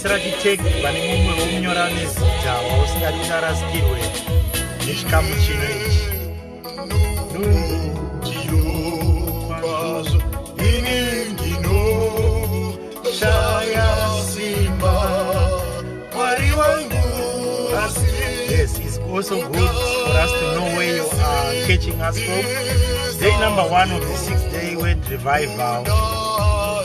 Sirati Tech vane mumwe womunyora nezita wausingati ucharasikirwe nechikamu chino ichi. Yes, it's also good for us to know where you are catching us from. Day number one of the sixth day, word revival. Uh,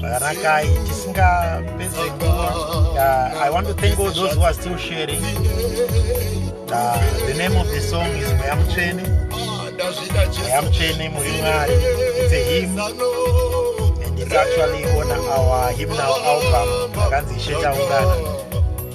zvakanakai tisingapedze nguva uh, i want to thank all those who are still sharing uh, the name of the song is mweya mutsvene mweya mutsvene muri mwari it's a him and it's actually on our him now album akanzi ishetaungana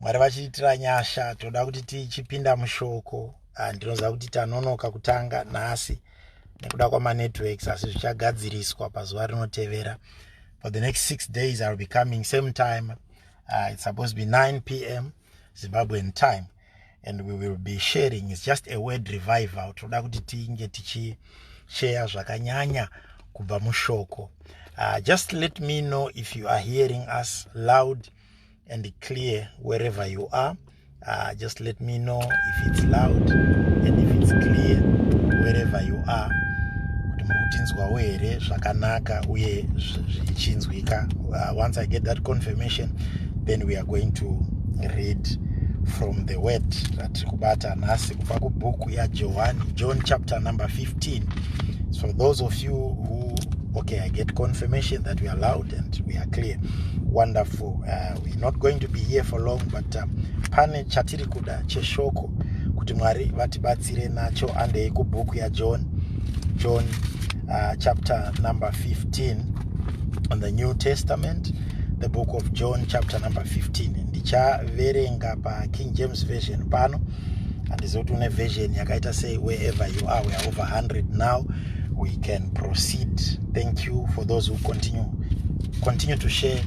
mwari vachiitira nyasha toda kuti tichipinda mushoko ah, ndinoziva kuti tanonoka kutanga nhasi nekuda kwamanetworks asi zvichagadziriswa pazuva rinotevera for the next six days iwill be coming same time uh, it's supposed to be 9 p m zimbabwean time and we will be sharing its just a word revival toda kuti tinge tichisheya zvakanyanya kubva mushoko uh, just let me know if you are hearing us loud uh, and clear wherever you are uh, just let me know if it's loud and if it's clear wherever you are kuti muri kutinzwawo here zvakanaka uye zvichinzwika uh, once i get that confirmation then we are going to read from the word ratiri kubata nhasi kubva kubhuku yajohani john chapter number 15 so those of you who Okay, I get confirmation that we are loud and we are clear. Wonderful. Uh, we're not going to be here for long, but um, pane chatiri kuda cheshoko kuti Mwari vatibatsire nacho andei kubhuku yaJohn John uh, chapter number 15 on the New Testament the book of John chapter number 15 ndichaverenga paKing James version pano handizivi kuti une version yakaita sei wherever you are weare over 100 now we can proceed thank you for those who continue continue to share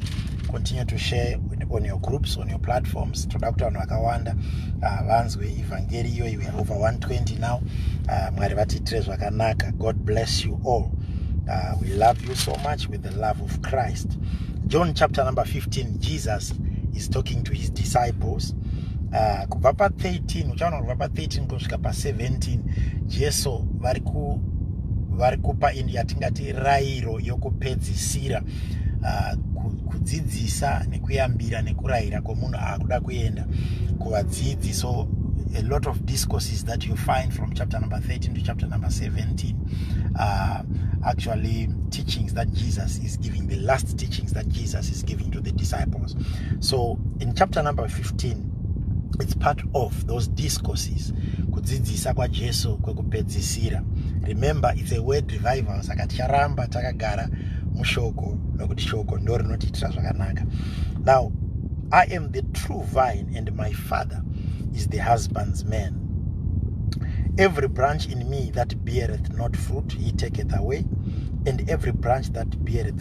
continue to share on your groups on your platforms toda kuti vanhu vakawanda ah, vanzwe evhangeri iyoyi weare over 120 now ah, mwari vatiitire zvakanaka god bless you all ah, we love you so much with the love of christ john chapter number 15 jesus is talking to his disciples uh, kubva pa13 uchaona kubva pa13 kusvika pa17 jesu vari ku vari kupa ini yatingati rairo yokupedzisira uh, kudzidzisa nekuyambira nekurayira kwomunhu akuda kuenda kuvadzidzi so a lot of discourses that you find from chapter number 13 to chapter number 17 uh, actually teachings that jesus is giving the last teachings that jesus is giving to the disciples so in chapter number 15 it's part of those discourses kudzidzisa kwajesu kwekupedzisira remember it's a word revival saka ticharamba takagara mushoko nokuti shoko ndo rinotiitira zvakanaka now i am the true vine and my father is the husband's man every branch in me that beareth not fruit he taketh away and every branch that beareth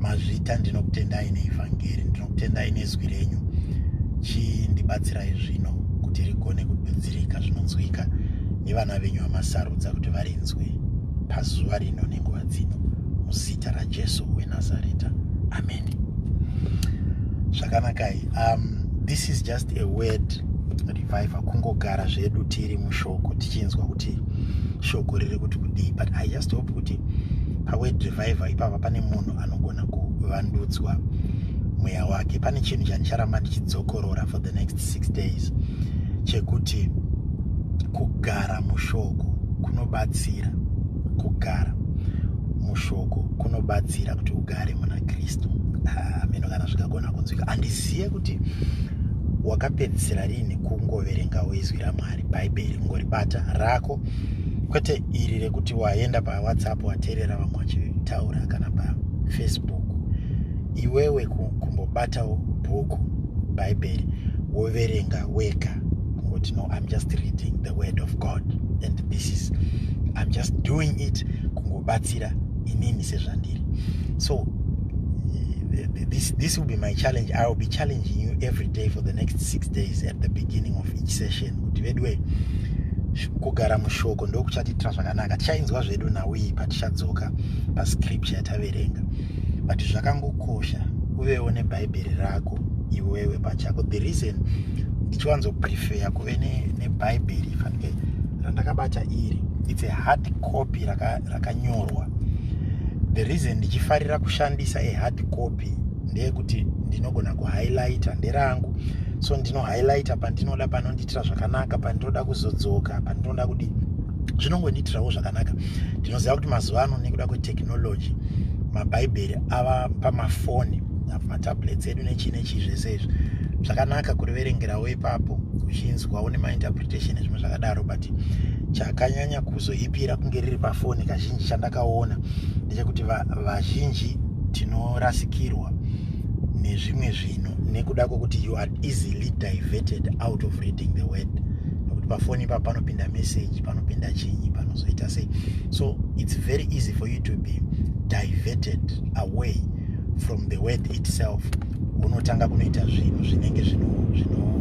Mazvita ndinokutendai neivhangeri, ndinokutendai nezwi renyu. Chindibatsirai zvino kuti rigone kududzirika zvinonzwika nevana venyu vamasarudza kuti varinzwe pazuva rino nenguva dzino muzita raJesu weNazareta. Amen. Zvakanakai. Um, this is just a word reviver kungogara zvedu tiri mushoko tichinzwa kuti shoko riri kuti kudii but i just hope kuti paword revival ipapa pane munhu anogona kuvandudzwa mweya wake pane chinhu chandicharamba ndichidzokorora for the next six days chekuti kugara mushoko kunobatsira kugara mushoko kunobatsira kuti ugare muna kristu ah, meno kana zvikagona kunzwika handizive kuti wakapedzisira rini kungoverengawo izwi ramwari bhaibheri kungoribata rako kwete iri rekuti waenda pawhatsapp wateerera vamwe vachitaura kana pafacebook iwewe kumbobatawo bhuku bhaibheri woverenga wega kungoti no im just reading the word of god and this is im just doing it kungobatsira inini sezvandiri so eh, this, this will be my challenge i will be challenging you every day for the next six days at the beginning of each session kuti veduwe kugara mushoko ndokuchatiitira zvakanaka tichainzwa zvedu nhau iyi patichadzoka pascripture yataverenga but zvakangokosha uvewo nebhaibheri rako iwewe pachako the reason ndichiwanzoprefeya kuve nebhaibheri ne fanike randakabata iri its a hard copy rakanyorwa raka the reason ndichifarira kushandisa a hard copy ndeyekuti ndinogona kuhighlighta nderangu so ndino highlighter pandinoda panondiitira zvakanaka pandinoda kuzodzoka pandinoda kudii zvinongondiitirawo zvakanaka ndinoziva kuti mazuva ano nekuda kwetechnology mabhaibheri ava pamafoni matablets edu nechii nechii zvese izvi zvakanaka kuriverengerawo ipapo uchinzwawo nemainterpretation ezvimwe zvakadaro but chakanyanya kuzoipira kunge riri pafoni kazhinji chandakaona ndechekuti vazhinji tinorasikirwa nezvimwe zvi ino nekuda kwekuti you are easily diverted out of reading the word nokuti pafoni ipa panopinda message panopinda chinyi panozoita sei so it's very easy for you to be diverted away from the word itself unotanga kunoita zvinhu zvinenge zvino zvino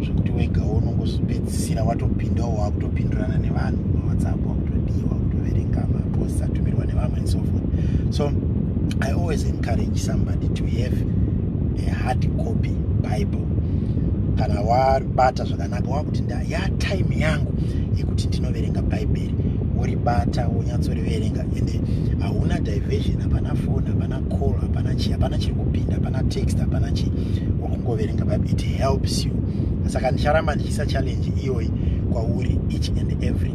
zvekuti wega unongozopedzisira watopindawo wakutopindurana nevanhu mawhatsapp wakutodiwa wakutoverenga maposts atumirwa nevamwe and so forth so i always encourage somebody to have a hard copy bible kana wabata zvakanaka wakuti nda ya time yangu yekuti ndinoverenga bhaibheri woribata wonyatsoriverenga ende hauna diversion hapana foni hapana call hapana chii hapana chiri kupinda hapana text hapana chii wakungoverenga bible it helps you saka ndicharamba ndichiisa challenge iyoyi kwauri each and every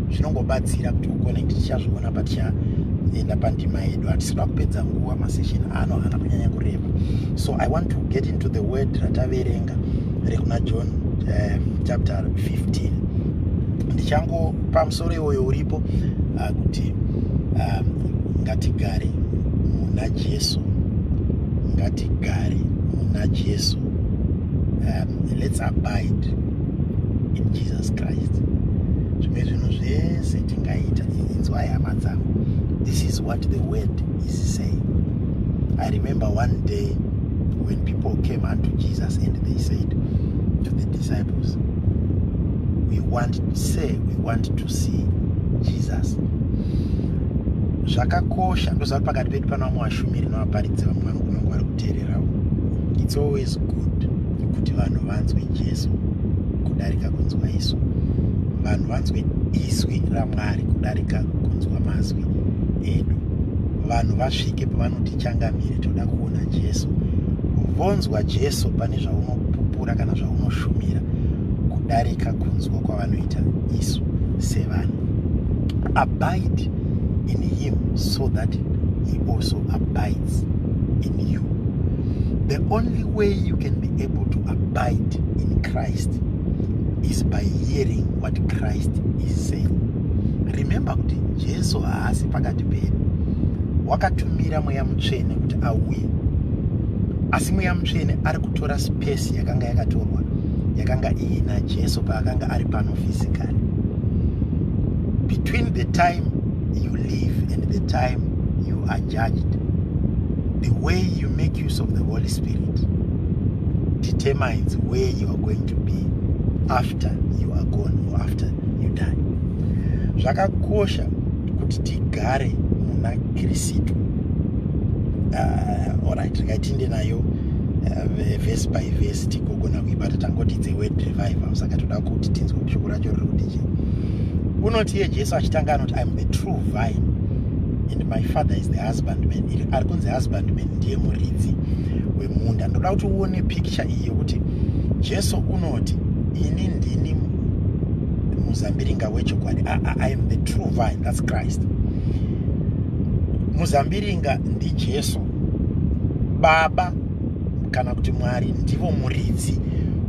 zvinongobatsira kuti ugone kuti tichazviona patichaenda pandima yedu hatisi kuda kupedza nguva masession ano haana kunyanya kureba so i want to get into the word rataverenga rekuna john uh, chapter 15 ndichango pamusoro iwoyo uripo uh, kuti uh, ngatigare muna jesu ngatigare muna jesu um, let's abide in jesus christ zvimwe zvinhu zvese tingaita inzwai hama dzangu this is what the word is saying i remember one day when people came unto jesus and they said to the disciples we want to say we want to see jesus zvakakosha ndozvati pakati pedu pano vamwe vashumiri nevaparidzi vamwe vanogona Terera it's always good kuti vanhu vanzwe Jesu kudarika kunzwa isu. Vanhu vanzwe izwi raMwari kudarika kunzwa mazwi edu. Vanhu vasvike pavanoti changamire toda kuona Jesu. Vonzwa Jesu pane zvaunopupura kana zvaunoshumira kudarika kunzwa kwavanoita isu sevanhu. Abide in him so that he also abide delights in you. The only way you can be able to abide in Christ is by hearing what Christ is saying. Remember kuti Jesu haasi pakati pedu. Wakatumira mweya mutsvene kuti auye. Asi mweya mutsvene ari kutora space yakanga yakatorwa yakanga iyi naJesu paakanga ari pano physically. Between the time you live and the time you are judged the way you make use of the holy spirit determines where you are going to be after you are gone or after you die zvakakosha kuti tigare muna kristu uh, orit rikaitinde nayo uh, vese by vese tigogona kuibata tangoti dze word revival saka toda kuti tinzwe shoko racho riri kuti chii unoti iye jesu achitanga anoti iam the true vine and my father is the husband man ari kunzi husband man ndiye muridzi wemunda ndoda kuti uone picture iyi yokuti jesu unoti ini ndini muzambiringa wechokwadi i am the true vine thats christ muzambiringa ndijesu baba kana kuti mwari ndivo muridzi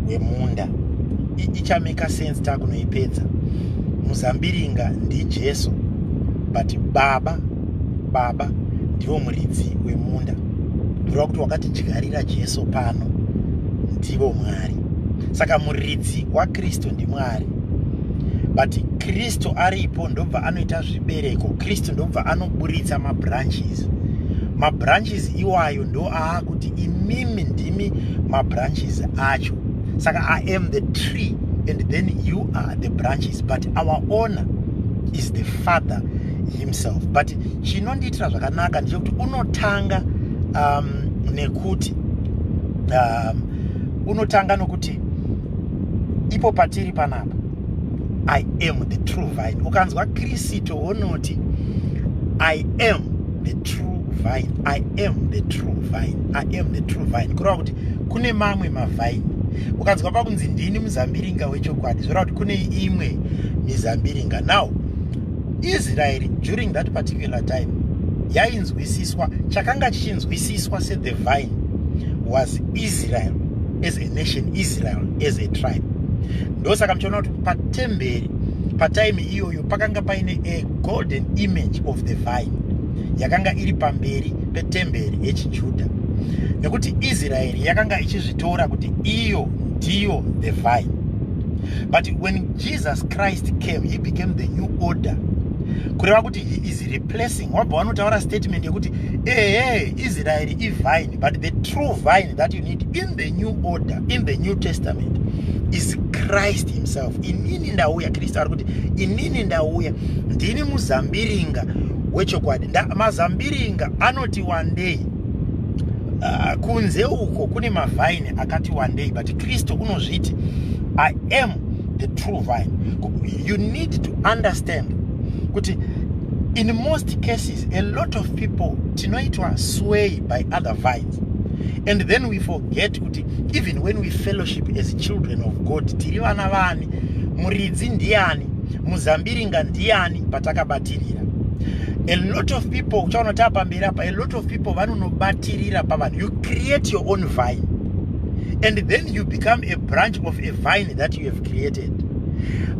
wemunda ichameka sense takunoipedza muzambiringa ndijesu but baba baba ndivo muridzi wemunda kureva kuti wakatidyarira jesu pano ndivo mwari saka muridzi wakristu ndimwari but kristu aripo ndobva anoita zvibereko kristu ndobva anoburitsa mabranches mabranches iwayo ndo aakuti imimi ndimi mabranches acho saka i am the tree and then you are the branches but our owner is the father himself but chinondiitira zvakanaka ndechekuti unotanga um, nekuti um, unotanga nokuti ipo patiri panapa i am the true vine ukanzwa kristu wonoti i am the true vine i am the true vine i am the true vine kureva kuti kune mamwe mavine ukanzwa pakunzi ndini muzambiringa wechokwadi zvoreva kuti kune imwe mizambiringa now israeri during that particular time yainzwisiswa chakanga chichinzwisiswa sethe vine was israel as a nation israel as a tribe ndosaka muchiona kuti patemberi pataimi iyoyo pakanga paine golden image of the vine yakanga iri pamberi petemberi yechijudha nekuti israeri yakanga ichizvitora kuti iyo ndiyo the vine but when jesus christ came he became the new order kureva kuti he is replacing wabva wanotaura statement yekuti ehe israeri ivine but the true vine that you need in The new order in the new testament is Christ himself. Inini ndauya, Kristu ari kuti inini ndauya, ndini muzambiringa wechokwadi. Mazambiringa anoti wandei uh, kunze uko kune mavhaini akati wandei but kristu unozviti i am the true vine you need to understand kuti in most cases a lot of people tinoitwa sway by other vine fellowship and then we forget kuti even when we fellowship as children of god tiri vana vani muridzi ndiani muzambiringa ndiani patakabatirira a lot of people uchaona taapamberi apa a lot of people vanonobatirira pavanhu you create your own vine and then you become a branch of a vine that you have created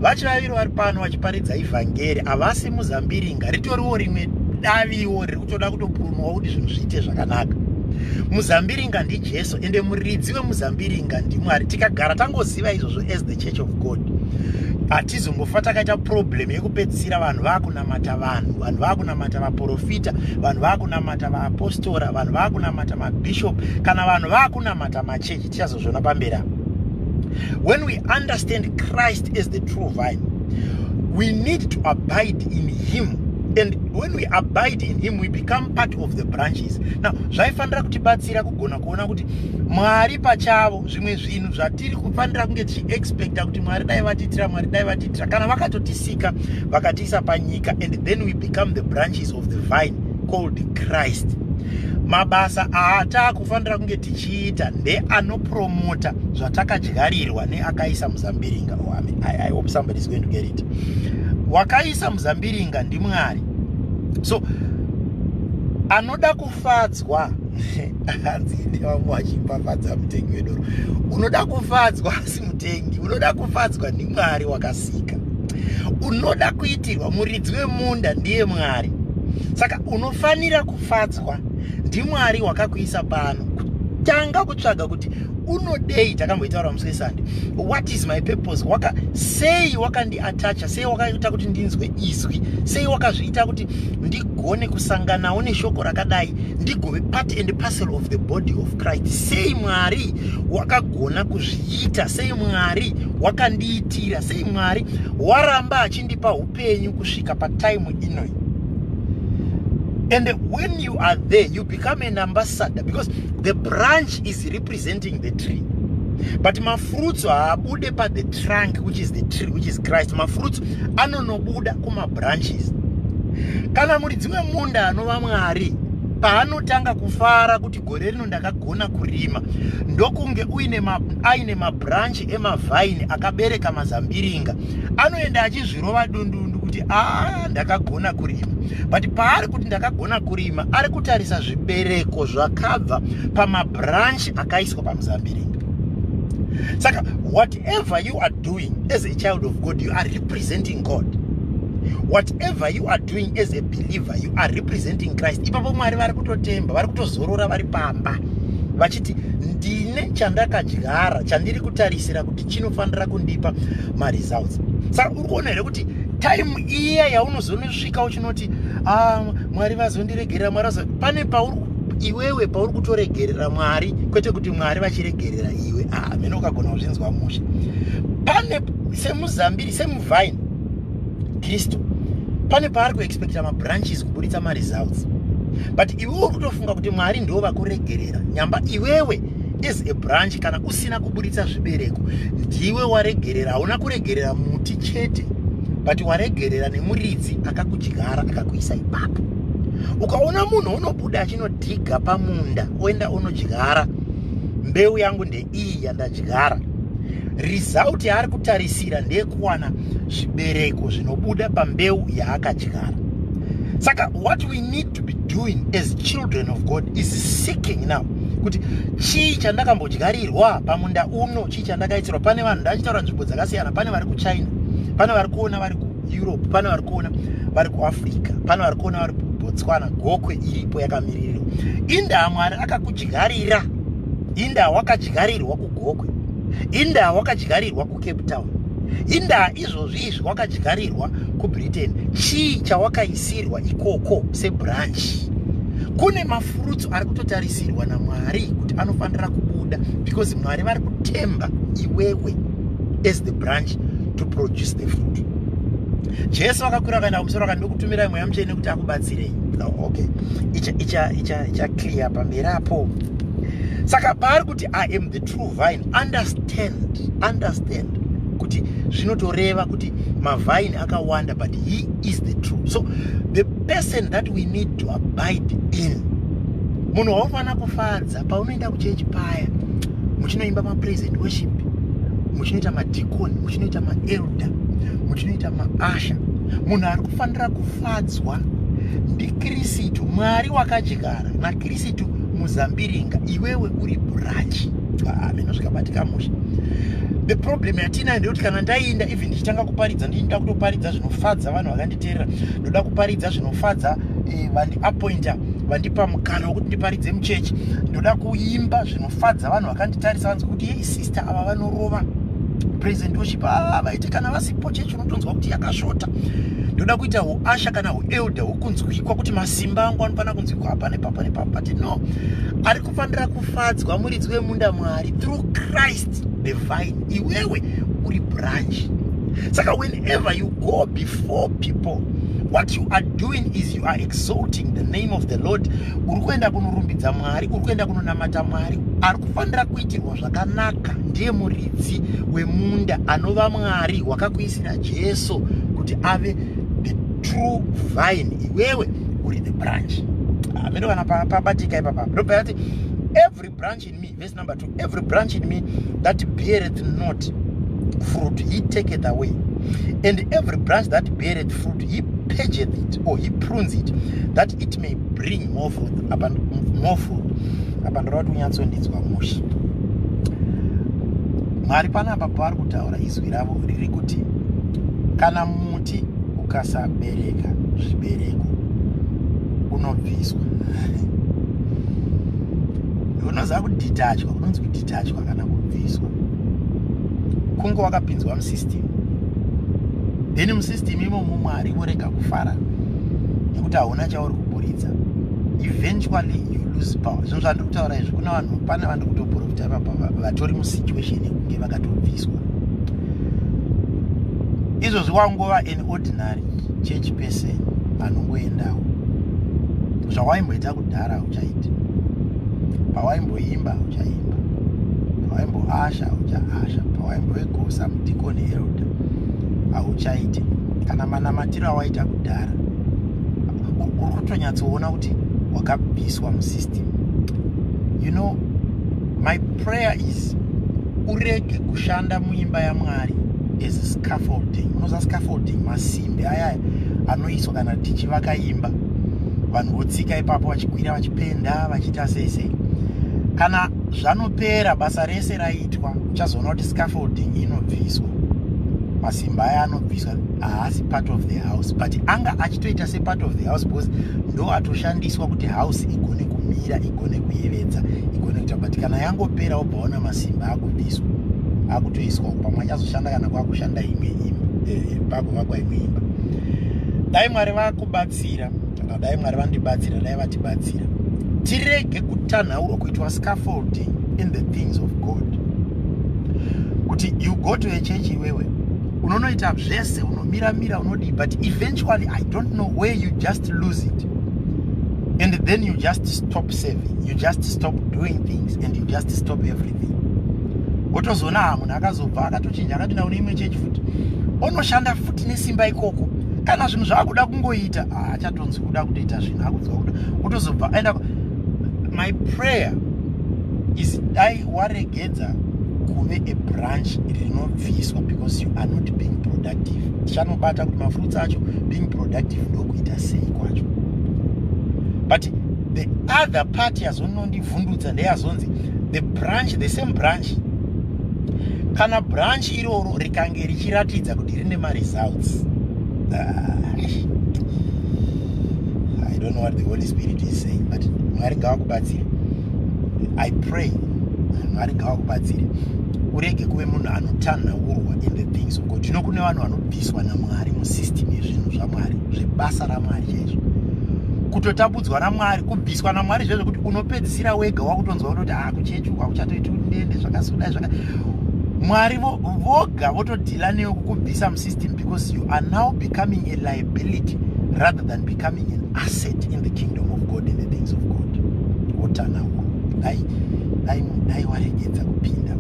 vachivaviri vari pano vachiparidza ivhangeri havasi muzambiringa ritoriwo rimwe daviwo kutoda kutopurumuka kuti zvinhu zviite zvakanaka muzambiringa ndijesu ende muridzi wemuzambiringa ndimwari tikagara tangoziva izvozvo as the church of god hatizongofa takaita problem yekupedzisira vanhu vakunamata vanhu vanhu vakunamata vaprofita vanhu vakunamata vaapostora vanhu vakunamata mabishop kana vanhu vakunamata machechi tichazozviona pamberi apa when we understand christ as the true vine we need to abide in him and when we abide in him we become part of the branches now zvaifanira kutibatsira kugona kuona kuti mwari pachavo zvimwe zvinhu zvatiri kufanira kunge tichiexpecta kuti mwari dai vatiitira mwari dai vatiitira kana vakatotisika vakatiisa panyika and then we become the branches of the vine called christ mabasa aataaku kufanira kunge tichiita ndeanopromota zvatakadyarirwa neakaisa muzambiringa oh, I, mean, I, I hope somebody is going to get it wakaisa muzambiringa ndimwari so anoda kufadzwa hanzi ine vamwe vachipafadza mutengi wedoro unoda kufadzwa asi mutengi unoda kufadzwa ndimwari wakasika unoda kuitirwa muridzi wemunda ndiye mwari saka unofanira kufadzwa ndimwari wakakuisa pano tanga kutsvaga kuti unodei takamboitaura musi wesande what is my purpose waka sei wakandiatacha sei wakaita kuti ndinzwe izwi sei wakazviita kuti ndigone kusanganawo neshoko rakadai ndigove part and parcel of the body of christ sei mwari wakagona kuzviita sei mwari wakandiitira sei mwari waramba achindipa upenyu kusvika pataimu inoi and when you are there you become an ambassador because the branch is representing the tree but mafruits haabude paThe trunk which is the tree which is christ mafruits anonobuda kumabranches kana muri dzimwe munda anova mwari paanotanga kufara kuti gore rino ndakagona kurima ndokunge uine ma, aine mabranch emavhaini akabereka mazambiringa anoenda achizvirova dundundu kuti a ah, ndakagona kurima but paari kuti ndakagona kurima ari kutarisa zvibereko zvakabva pamabranch akaiswa pamuzambiringa saka whatever you are doing as a child of god you are representing god whatever you are doing as a believer you are representing christ ipapo mwari vari kutotemba vari kutozorora vari pamba ndine chandakadyara chandiri kutarisira kuti chinofanira kundipa maresults saka uri kuona here kuti time iya yaunozonosvika uchinoti ah, mwari vazondiregerera mwari vazo pane pauri iwewe pauri kutoregerera mwari kwete kuti mwari vachiregerera iwe ah, mene ukagona kuzvinzwa mushe pane semuzambiri semuvhaini kristu pane paari kuexpecta mabranches kuburitsa maresults but iwe uri kutofunga kuti mwari ndo vakuregerera nyamba iwewe as a branch kana usina kuburitsa zvibereko ndiwe waregerera hauna kuregerera muti chete but waregerera nemuridzi akakudyara akakuisa ipapo ukaona munhu unobuda achinodhiga pamunda oenda unodyara mbeu yangu ndei iyi yandadyara result yaari kutarisira ndeyekuwana zvibereko zvinobuda pambeu yaakadyara saka what we need to be doing as children of god is seeking now kuti chii chandakambodyarirwa pamunda uno chii chandakaitirwa pane vanhu ndachitaura nzvimbo dzakasiyana pane vari kuchina pane vari kuona vari kueurope pane vari kuona vari kuafrica pane vari kuona vari kubotswana gokwe iripo yakamirirwa indaa mwari akakudyarira indaa wakadyarirwa kugokwe indaa wakadyarirwa kucape town indaa izvozvi izvi wakadyarirwa kubritain chii chawakaisirwa ikoko sebranchi kune mafurutsu ari kutotarisirwa namwari kuti anofanira kubuda because mwari vari kutemba iwewe as the branch to produce the fruit jesu vakakwira vakaenda kumusoro vaka ndokutumirai mweya mutsvene kuti akubatsirei okay icha icha icha icha clear pamberi apo saka paari kuti i am the true vine understand understand kuti zvinotoreva kuti mavine akawanda but he is the true so the person that we need to abide in munhu waunofanira kufadza paunoenda kuchechi paya muchinoimba mapresent worship muchinoita madicon muchinoita maelder muchinoita maasha munhu ari kufanira kufadzwa ndikirisitu mwari wakadyara Kristu muzambiringa iwewe uri burachi ah, mino zvikabatika musha the problem yatinayo ndeyekuti kana ndaiinda even ndichitanga kuparidza ndinda kutoparidza zvinofadza vanhu vakanditeerera ndoda kuparidza zvinofadza eh, vandiappointa vandipa mukana wekuti ndiparidze muchechi ndoda kuimba zvinofadza vanhu vakanditarisa vanzi kuti yei sister ava vanorova present worship ah, vaiti kana vasipo chechi unotonzwa kuti yakasvota ndoda kuita uasha kana uelder hwokunzwikwa kuti masimba angu anofanira kunzwikwa apa nepapa nepapa but no ari kufanira kufadzwa muridzi wemunda mwari through christ the vine iwewe uri branch saka whenever you go before people what you are doing is you are exalting the name of the lord uri kuenda kunorumbidza mwari uri kuenda kunonamata mwari ari kufanira kuitirwa zvakanaka ndiye muridzi wemunda anova mwari wakakuisira jesu kuti ave the true vine iwewe uri the branch amene ah, kana pabatika ipapa ndobva yati every branch in me verse number two every branch in me that beareth not fruit he taketh away and every branch that beareth fruit he purgeth it or he prunes it that it may bring more fruit upon more fruit apa ndoda kuti unyatsondidzwa mushe mwari panapa pavari kutaura izwi ravo riri kuti kana muti ukasabereka zvibereko unobviswa unoziva kudhitachwa unonzi kudhitachwa kana kubviswa kunge wakapinzwa musystem then musystem imomo mwari vorega kufara nekuti hauna chauri kuburitsa eventually you lose power zvinhu zvandiri kutaura izvi kuna vanhu pane vandiri kutoporofita ipapa vatori musituation yekunge vakatobviswa izvozvi wangova an ordinary church person anongoendawo zvawaimboita kudhara uchaita pawaimboimba uchaimba pawaimboasha uchaasha pawaimboegosa mudikoni elda hauchaite kana manamatiro awaita kudhara uri kutonyatsoona but wakabviswa musystem you know my prayer is urege kushanda muimba yamwari as a scaffolding unoziva scaffolding masimbi aya anoiswa kana tichivaka imba vanhu votsika ipapo vachikwira vachipenda vachiita sei sei kana zvanopera basa rese raitwa uchazoona kuti scaffolding inobviswa masimba aya anobviswa baba haasi part of the house but anga achitoita separt of the house because ndo atoshandiswa kuti house igone kumira igone kuyevedza igone kuita but kana yangopera obva ona masimba akubviswa akutoiswa pamwe anyazoshanda kana kwakushanda imwe imba eh, eh, pagovakwa imwe imba dai mwari vakubatsira kana dai mwari vandibatsira dai vatibatsira tirege kutanhaurwa kuitwa scaffolding in the things of god kuti you go to a church iwewe unonoita zvese unomira mira unodii but eventually i don't know where you just lose it and then you just stop saving you just stop doing things and you just stop everything wotozoona ha munhu akazobva akatochinja akapinda kune imwe chechi futi onoshanda futi nesimba ikoko kana zvinhu zvaakuda kungoita haachatonzi kuda kutoita zvinhu akudzwa kuda wotozobva aenda my prayer is dai warege edza kuve a branch rinobviswa because you are not being productive tichanobata kuti mafruits acho being productive ndokuita sei kwacho but the other party yazonondivhundutsa ndeyazonzi the branch the same branch kana branch iroro rikange richiratidza kuti rine maresults ah, i don't know what the holy spirit is saying but mwari ngavakubatsira i pray mwari ngavakubatsire urege kuve munhu anotanhaurwa in the things of god zvino kune vanhu vanobviswa namwari musystem yezvinhu zvamwari zvebasa ramwari chaizvo kutotambudzwa namwari kubviswa namwari zvezvo kuti unopedzisira wega wakutonzwa kutoti ha ah, kuchechi kwakuchatoiti ndende zvakasodai zvaka mwari voga votodhila newe kukubvisa musystem because you are now becoming a liability rather than becoming an asset in the kingdom of god in the things of god wotanawo dai dai dai waregedza kupinda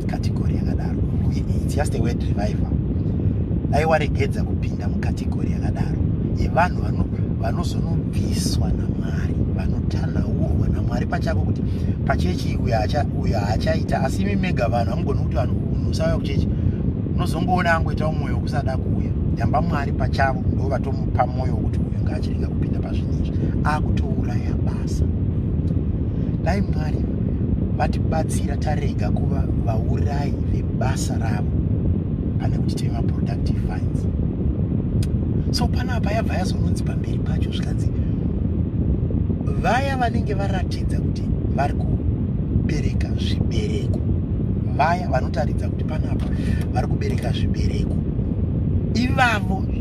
mukategori yakadaro its just a word revival dai waregedza kupinda mukategori yakadaro yevanhu vanozonobviswa namwari vanotanaurwa namwari pachako kuti pachechi uyo haachaita asi imi mega vanhu hamugoni kuti vanhu musauya kuchechi unozongoona angoita umwoyo wokusada kuuya yamba mwari pachavo ndovatomu pamwoyo wekuti uyu ngaachirega kupinda pazvinhu izvi akutouraya basa dai mwari vatibatsira tarega kuva vaurayi vebasa ravo pane kuti tive maproductive fines so panapa yabva yazononzi pamberi pacho zvikanzi vaya vanenge varatidza kuti vari kubereka zvibereko vaya vanotaridza kuti panapa vari kubereka zvibereko ivavo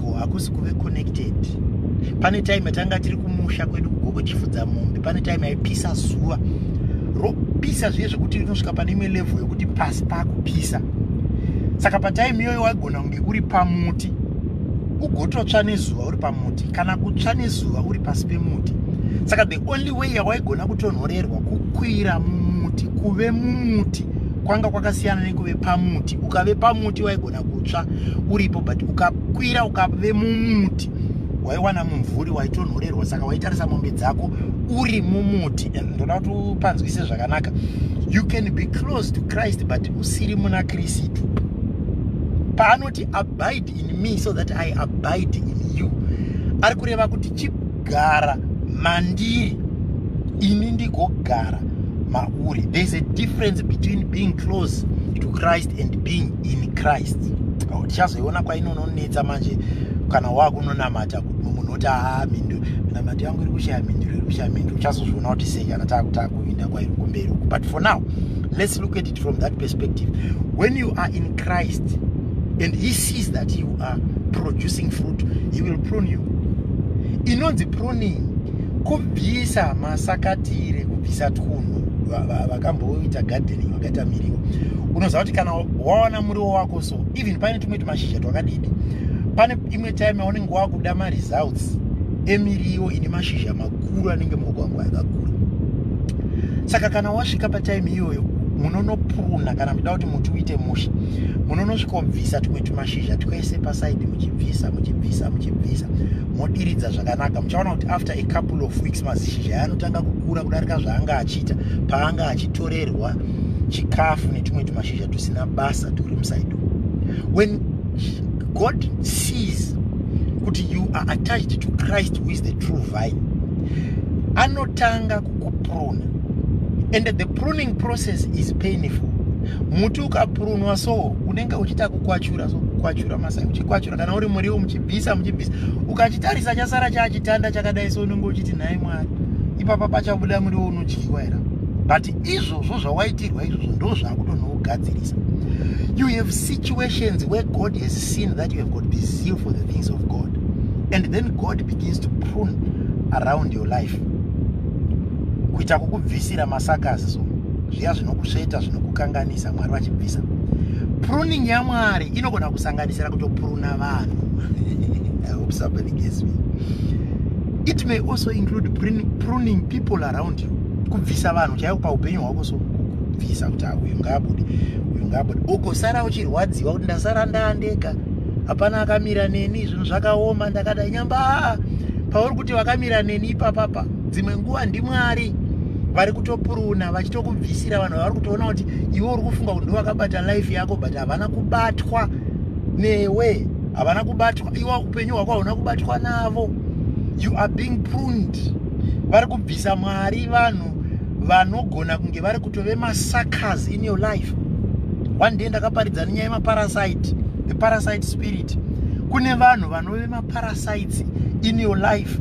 uko hakusi kuve connected pane time yatanga tiri kumusha kwedu kugogo chifudza mombe pane time yaipisa zuva ropisa zviye zvekuti rinosvika pane imwe level yekuti pasi pakupisa saka patime iyoyo waigona kunge uri pamuti ugototsva nezuva uri pamuti kana kutsva nezuva uri pasi pemuti saka the only way yawaigona kutonhorerwa kukwira mumuti kuve mumuti kwanga kwakasiyana nekuve pamuti ukave pamuti waigona kutsva uripo but ukakwira ukave mumuti waiwana mumvuri waitonhorerwa saka waitarisa mombe dzako uri mumuti and ndoda kuti upanzwise zvakanaka you can be close to christ but usiri muna kristu paanoti abide in me so that i abide in you ari kureva kuti chip gara mandiri ini ndigogara mauri there's a difference between being close to christ and being in christ tichazoiona kwainononetsa manje kana wakunonamata munhu oti haa mhinduro minamato yangu iri kushaya mhinduro iri kushaya mhinduro uchazozviona kuti sei kana taakutakuinda kwairi kumberi uku but for now let's look at it from that perspective when you are in christ and he sees that you are producing fruit he will prune you inonzi pruning kubvisa masakatire kubvisa twunhu vakamboita gardening vakaita miriwo unoziva kuti kana wawana muriwo wako so even pane tumwe tumashizha twakadidi pane imwe time yaunenge wakuda maresults emiriwo ine mashizha makuru anenge maoko angu ayakakura saka kana wasvika patime iyoyo munonopuruna kana muchida kuti muti uite musha munonosvika ubvisa tumwe tumashizha twese pasaidi muchibvisa muchibvisa muchibvisa modiridza zvakanaka muchaona kuti after a couple of weeks mazishizha aya anotanga kukura kudarika zvaanga achiita paanga achitorerwa chikafu netumwe tumashizha tusina basa turi musaidi when God sees kuti you are attached to Christ who is the true vine anotanga kukupruna and the pruning process is painful muti ukaprunwa so unenge uchiita kukwachura so kukwachura masai uchikwachura kana uri muriwo muchibvisa muchibvisa ukachitarisa chasara chachitanda chakadai so unenge uchiti nhai mwari ipapa pachabuda muriwo unodyiwa here izvozvo zvawaitirwa izvozvo ndo zvakutonougadzirisa you have situations where god has seen that you have got this zeal for the things of god and then god begins to prune around your life kuita kukubvisira masakasi so zviya zvinokusveta zvinokukanganisa mwari vachibvisa pruning yamwari inogona kusanganisira kutopuruna vanhu it may also include pruning people around kubvisa vanhu chaivo paupenyu hwako so kubvisa kuti ah, uyu ngaabude uyu ngaabude ugosara uchirwadziwa kuti ndasara ndaandeka hapana akamira neni zvinhu zvakaoma ndakadai nyamba ah, pauri kuti vakamira neni ipapapa dzimwe nguva ndimwari vari kutopuruna vachitokubvisira vanhu vavari kutoona kuti iwe uri kufunga kuti ndovakabata life yako but havana kubatwa newe havana kubatwa iwa upenyu hwako hauna kubatwa navo you are being pruned vari kubvisa mwari vanhu vanogona kunge vari kutove masuckers in your life one day ndakaparidza nenyaya yemaparasite the parasite spirit kune vanhu vanove maparasites in your life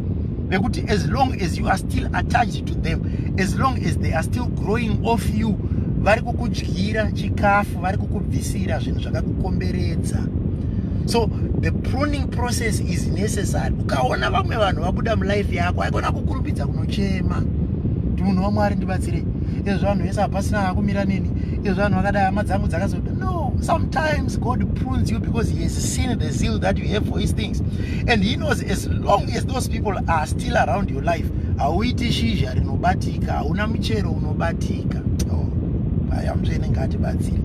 vekuti as long as you are still attached to them as long as they are still growing off you vari kukudyira chikafu vari kukubvisira zvinhu zvakakukomberedza so the pruning process is necessary ukaona vamwe vanhu vabuda mulife yako haikona kukurumbidza kunochema kuti munhu wamwari ndibatsire ezvo vanhu vese hapasina vakumira neni ezvo vanhu vakadai hama dzangu dzakazoda no sometimes god prunes you because he has seen the zeal that you have for his things and he knows as long as those people are still around you life hauiti shizha rinobatika hauna muchero unobatika oh, aya mutsvene ngaatibatsire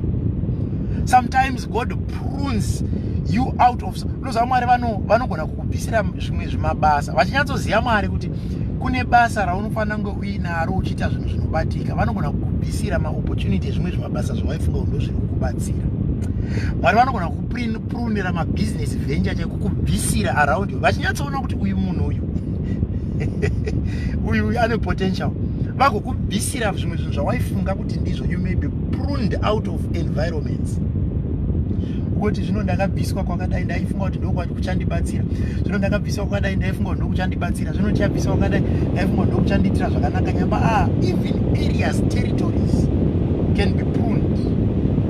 sometimes god prunes you out of unoziva mwari vanogona kukubvisira zvimwe zvimabasa vachinyatsoziva mwari kuti kune basa raunofanira kunge uinaro uchiita zvinhu zvinobatika vanogona kukubvisira maopportunity ezvimwe zvimabasa zvawaifunga undo zviri kukubatsira mwari vanogona kuprunira mabhizinesi venture chaikukubvisira around yo vachinyatsoona kuti uyu munhu uyu uyu uyu ane potential vakokubvisira zvimwe zvinhu zvawaifunga kuti ndizvo you may be pruned out of environments kuti zvino ndakabviswa kwakadai ndaifunga kuti ndokwati kuchandibatsira zvino ndakabviswa kwakadai ndaifunga kuti ndokuchandibatsira zvino ndichabviswa kwakadai ndaifunga kuti ndokuchandiitira zvakanaka nyamba a ah, even areas territories can be pruned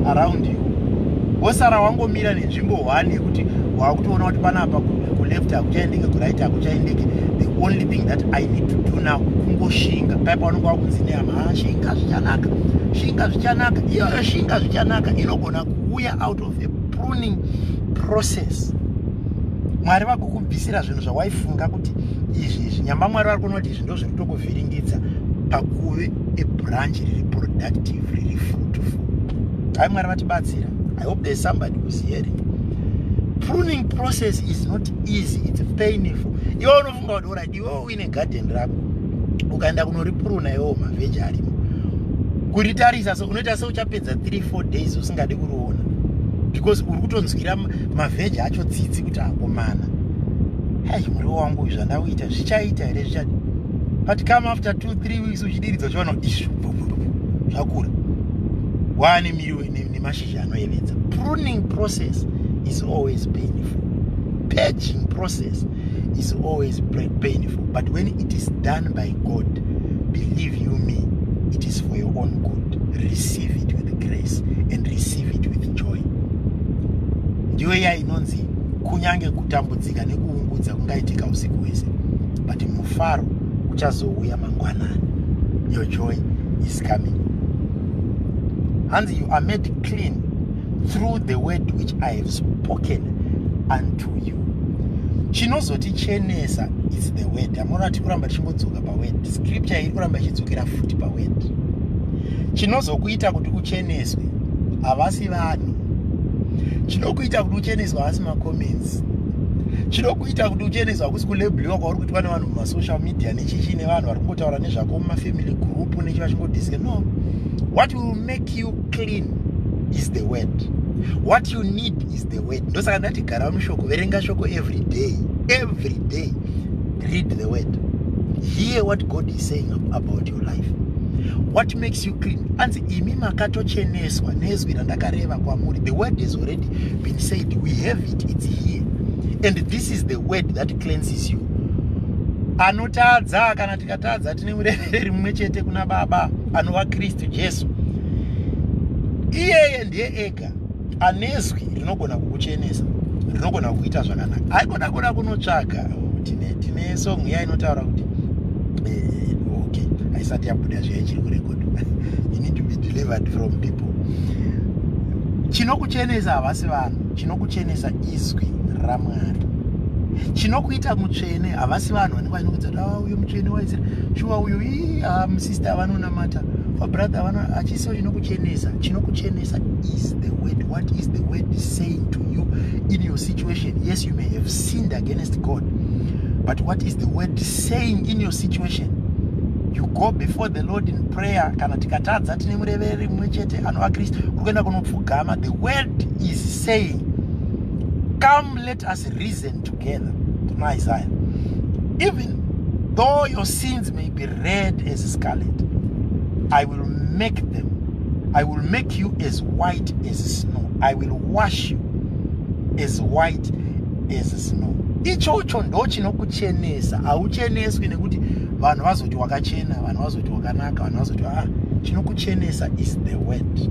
around you wosara wangomira nenzvimbo one yekuti wakutoona kuti panapa kuleft hakuchaendeke kuright hakuchaendeke the only thing that i need to do now kungoshinga paya paunenge wakunzi nehama ah, shinga zvichanaka shinga zvichanaka iyoyo shinga zvichanaka inogona kuuya out of a pruning process mwari vakukubvisira zvinhu zvawaifunga kuti izvi izvi nyamba mwari vari kunoti izvi ndo zviri kutokuvhiringidza pakuve ebranch riri productive riri fruitful hai mwari vatibatsira i hope there's somebody who's hearing pruning process is not easy its painful iwe unofunga kuti orit iwe uine garden rako ukaenda kunoripruna iwewo mavheji arimo kuritarisa so unoita seuchapedza 3 4 days usingadi kuriona because uri kutonzwira mavheji acho tsitsi kuti akomana hai muriwo wangu uyu zvandauita zvichaita here zvichati but come after two three weeks uchidiridza uchiona kuti izvi zvakura wane miriwo nemashizha anoyevedza pruning process is always painful paging process is always painful but when it is done by god believe you me it is for your own good receive it with grace and receive it with joy ndiyo iya inonzi kunyange kutambudzika nekuungudza kungaitika usiku hwese but mufaro uchazouya mangwanani your joy is coming hanzi you are made clean through the word which i have spoken unto you chinozotichenesa is the word hamona ti kuramba tichingodzoka paword scripture iri kuramba ichidzokera futi paword chinozokuita kuti ucheneswe havasi vanhu chinokuita kuti ucheneswe havasi macomments chinokuita kuti ucheneswe hakusi kulebliwa kwauri kuitwa nevanhu mumasocial media nechichi nevanhu vari kungotaura nezvako mumafamily group nechi vachingodiscusa no what will make you clean is the word what you need is the word ndosaka ndati gara mushoko verenga shoko every day every day read the word hear what god is saying about your life what makes you clean anzi imi makatocheneswa nezwi randakareva kwamuri the word has already been said we have it it's here and this is the word that cleanses you anotadza kana tikatadza tine mureveri mumwe chete kuna baba anova kristu jesu iyeye ndiye ega anezwi rinogona kukuchenesa rinogona kukuita zvakanaka haikona kuda kunotsvaga tine tine song iya inotaura kuti eh, okay haisati yabuda zviya ichiri kurekodwa you need to be delivered from people chinokuchenesa havasi vanhu chinokuchenesa izwi ramwari chinokuita mutsvene havasi vanhu vanoudza ah, uyo mutsvene waizira shuwa uyo ii ah, musista avanonamata fabrother avano hachiso chinokuchenesa chinokuchenesa is the word what is the word saying to you in your situation yes you may have sinned against god but what is the word saying in your situation you go before the lord in prayer kana tikatadza tine murevereri mumwe chete anova kristu uri kuenda kunopfugama the word is saying come let us reason and together kuna isaya even though your sins may be red as scarlet i will make them i will make you as white as snow i will wash you as white as snow ichocho ndo chinokuchenesa haucheneswi nekuti vanhu vazoti wakachena vanhu vazoti wakanaka vanhu vazoti ah chinokuchenesa is the word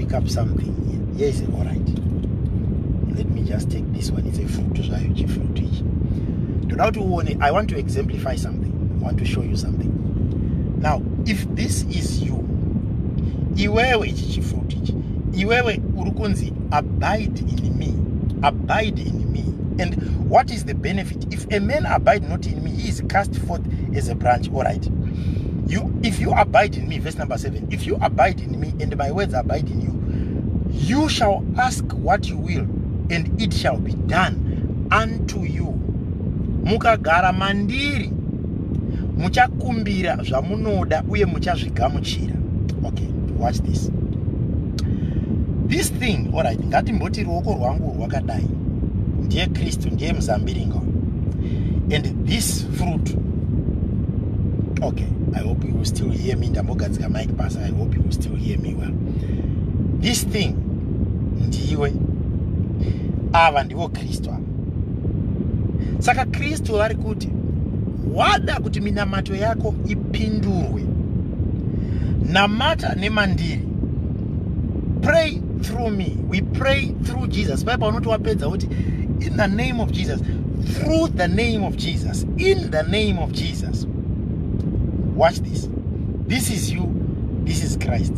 pick up something here yes all right let me just take this one it's a fruit zvayo chifruit ichi ndoda kuti uone i want to exemplify something i want to show you something now if this is you iwewe ichi chifruit ichi iwewe uri kunzi abide in me abide in me and what is the benefit if a man abide not in me he is cast forth as a branch all right you if you abide in me verse number seven if you abide in me and my words abide in you you shall ask what you will and it shall be done unto you mukagara mandiri muchakumbira zvamunoda uye muchazvigamuchira okay watch this this thing orit ngatimboti ruoko rwangu rwakadai ndiye kristu ndiye muzambiringo and this fruit okay i hope you will still hear me ndambogadzika But Basa, I hope you will still hear me well. This thing, ndiwe, ava ndivo Kristu ava. Saka Kristu vari kuti, wada kuti minamato yako ipindurwe, namata nemandiri. Pray through me. We pray through Jesus. Bible unoti wapedza kuti, in the name of Jesus, through the name of Jesus, in the name of Jesus. watch this this is you this is christ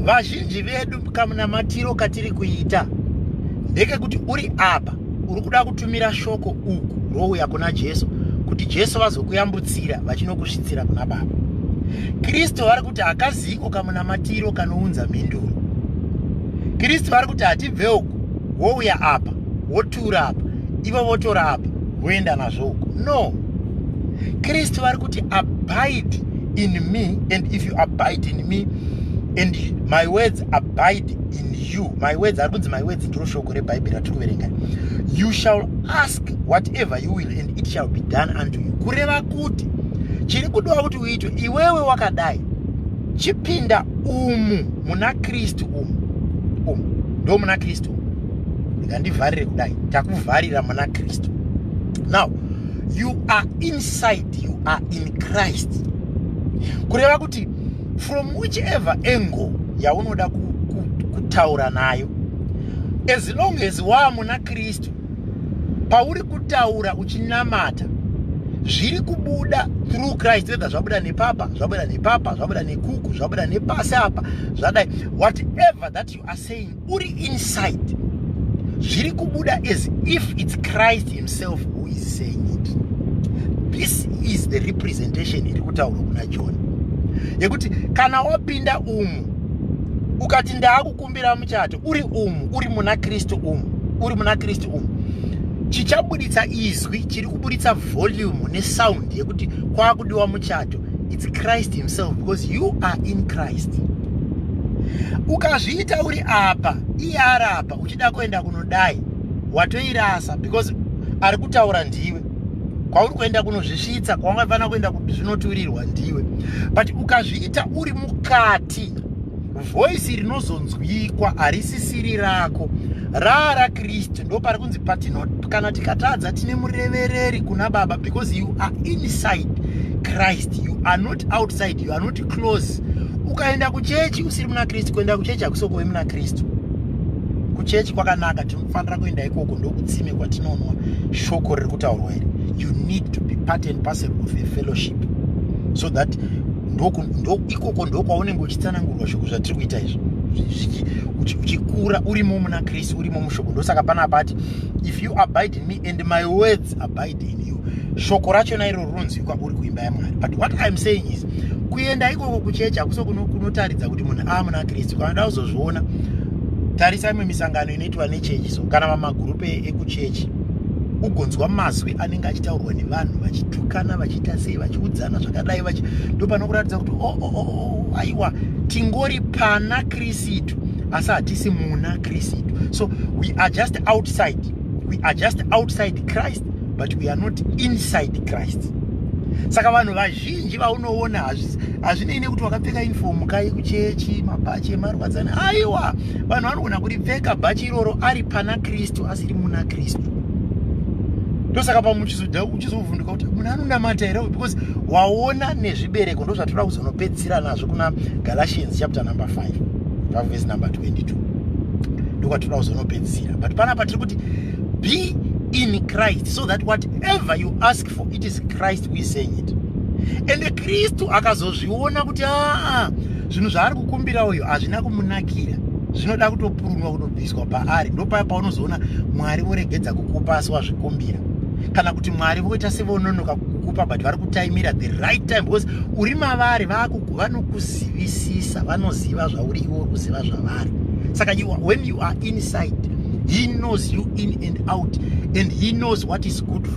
vazhinji vedu kamunamatiro katiri kuita ndekekuti uri apa uri kuda kutumira shoko uku rouya kuna jesu kuti jesu vazokuyambutsira vachinokusvitsira kuna baba kristu vari kuti hakaziko kamunamatiro kanounza mhinduro kristu vari kuti hatibve uku wouya apa wotura apa ivo votora apa woenda nazvo uko no kristu vari kuti abide in me and if you abide in me and my words abide in you my words ari kunzi my words ndiro shoko rebhaibheri ratiri kuverenga you shall ask whatever you will and it shall be done unto you kureva kuti chiri kudiwa kuti uitwe iwewe wakadai chipinda umu muna kristu umu umu ndo muna kristu umu ndivharire kudai takuvharira muna kristu now you are inside you are in christ kureva kuti from whichever angle yaunoda kutaura nayo as long as waamuna kristu pauri kutaura uchinamata zviri kubuda through christ whether zvabuda nepapa zvabuda nepapa zvabuda nekuku zvabuda nepasi apa zvadai whatever that you are saying uri inside zviri kubuda as if it's christ himself who is saying it this is the representation iri kutaurwa kuna john yekuti kana wapinda umu ukati ndaakukumbira muchato uri umu uri muna kristu umu uri muna kristu umu chichabuditsa izwi chiri kuburitsa volume nesound yekuti kwaakudiwa muchato it's christ himself because you are in christ ukazviita uri apa iye ari apa uchida kuenda kunodai watoirasa because ari kutaura ndiwe kwauri kuenda kunozvisvitsa kwawanga fanira kuenda zvinoturirwa ndiwe but ukazviita uri mukati voisi rinozonzwikwa harisisiri rako raara kristu ndo pari kunzi patino kana tikatadza tine murevereri kuna baba because you are inside christ you are not outside you are not close ukaenda kuchechi usiri muna kristu kuenda kuchechi hakusokuve muna kristu kuchechi kwakanaka tinofanira kuenda ikoko ndokutsime kwatinonwa shoko riri kutaurwa iri you need to be part and parcel of a fellowship so that ikoko ndokwaunenge uchitsanangurwa shoko zvatiri kuita izvo uchikura urimo muna kristu urimo mushoko ndosaka pana pati if you abide in me and my words abide in you shoko racho nairo rinonzwikwa uri kuimba yamwari but what iam saying is kuenda ikoko kuchechi hakuso kunotaridza kuti munhu aa muna kristu kanoda kuzozviona tarisa imwe misangano inoitwa nechechi so kana vamagurupe ekuchechi ugonzwa mazwi anenge achitaurwa nevanhu vachitukana vachiita sei vachiudzana zvakadai vachi ndopanokuratidza kuti oh, oh, oh, oh, aiwa tingori pana krisitu asi hatisi muna krisitu so we are just outside we are just outside christ but we are not inside christ saka vanhu vazhinji vaunoona hazvinei nekuti wakapfeka infomu kai kuchechi mabhachi emarwadzana aiwa vanhu vanogona kuripfeka bhachi iroro ari pana kristu asiri muna kristu ndosaka pamwe uchizoda uchizovhunduka kuti munhu anonamata here uyu because waona nezvibereko ndo zvatoda kuzonopedzisira nazvo kuna galatians chapter number 5 pavhesi number 22 ndokwatoda kuzonopedzisira but panapa tiri kuti be in christ so that whatever you ask hope for it is christ who is saying it ende kristu akazozviona kuti aa zvinhu zvaari kukumbira uyo hazvina kumunakira zvinoda kutopurunwa kutobviswa paari ndopaya paunozoona mwari voregedza kukupa asi wazvikumbira kana kuti mwari voita sevononoka kukupa but vari kutaimira the right time because uri mavari vanokuzivisisa vanoziva zvauri iwe uri kuziva zvavari saka you are, when you are inside he knows you in and out and he knows what is good for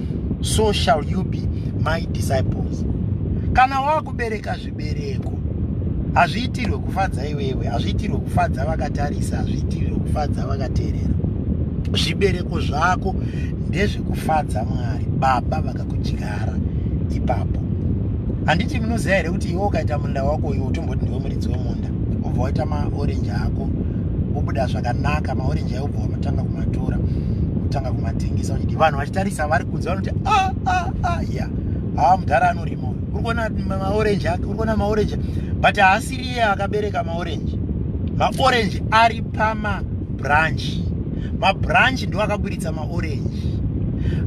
so shall you be my disciples kana wakubereka zvibereko hazviitirwe kufadza iwewe hazviitirwe kufadza vakatarisa hazviitirwe kufadza vakateerera zvibereko zvako ndezvekufadza mwari baba vakakudyara ipapo handiti munoziva here kuti iwe ukaita munda wako uyo utomboti ndiwe muridzi wemunda obva waita maorenji ako obuda zvakanaka maorenji mabhiza obva vanotanga kumatora kutanga kumatengesa uchidi vanhu vachitarisa vari kunze vanoti ah, ah, ah, ya haa mudhara anorima uyu uri kuona maorenji ake uri kuona maorenji but haasiri iye akabereka maorenji maorenji ari pamabranchi mabranchi ndiwo akaburitsa maorenji